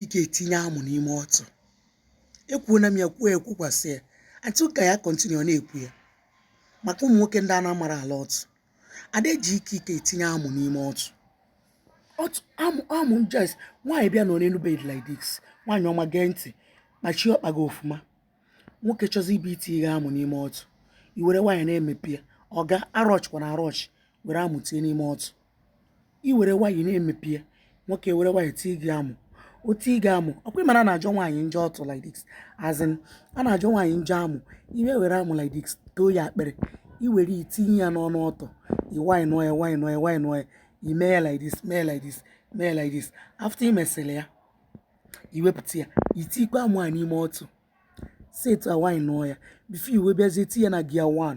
ị ga-etinye amụ n'ime ọtụ ekwuola m ya kwuo ya kwukwasị ya atụ ka ya continue na-ekwu ya maka ụmụ nwoke ndị a na-amarọ ala ọtụ ada eji ike ike etinye amụ n'ime ọtụ ọtụ amụ amụ yes nwaanyị bịa nọọ n'enu bed like this nwaanyị ọma gee ntị kpachie ọkpa gị ọfụma nwoke chọzi ịbịa itinye amụ n'ime ọtụ i were nwayọ na-emepe ya ọga arushkwana arush were amụ tinye n'ime ọtụ i were nwayọ na-emepe ya nwoke were nwayọ tii gị amụ o tii gị amụ ọ kwa ị ma na-ajọ nwaanyị njọ ọtụ like this as in a na-ajọ nwaanyị njọ amụ i wee were amụ like this too ya akpịrị i were tinye ya n'ọnụ ọtụ i nwayọ nuo ya nwayọ nuo ya nwayọ nuo ya i mee ya like this mee like this mee like this after i mesịrị ya i wepụta ya i tikwa amụ a n'ime ọtụ si etu a nwayọ nuo ya before i wee bịazie tii ya na gear 1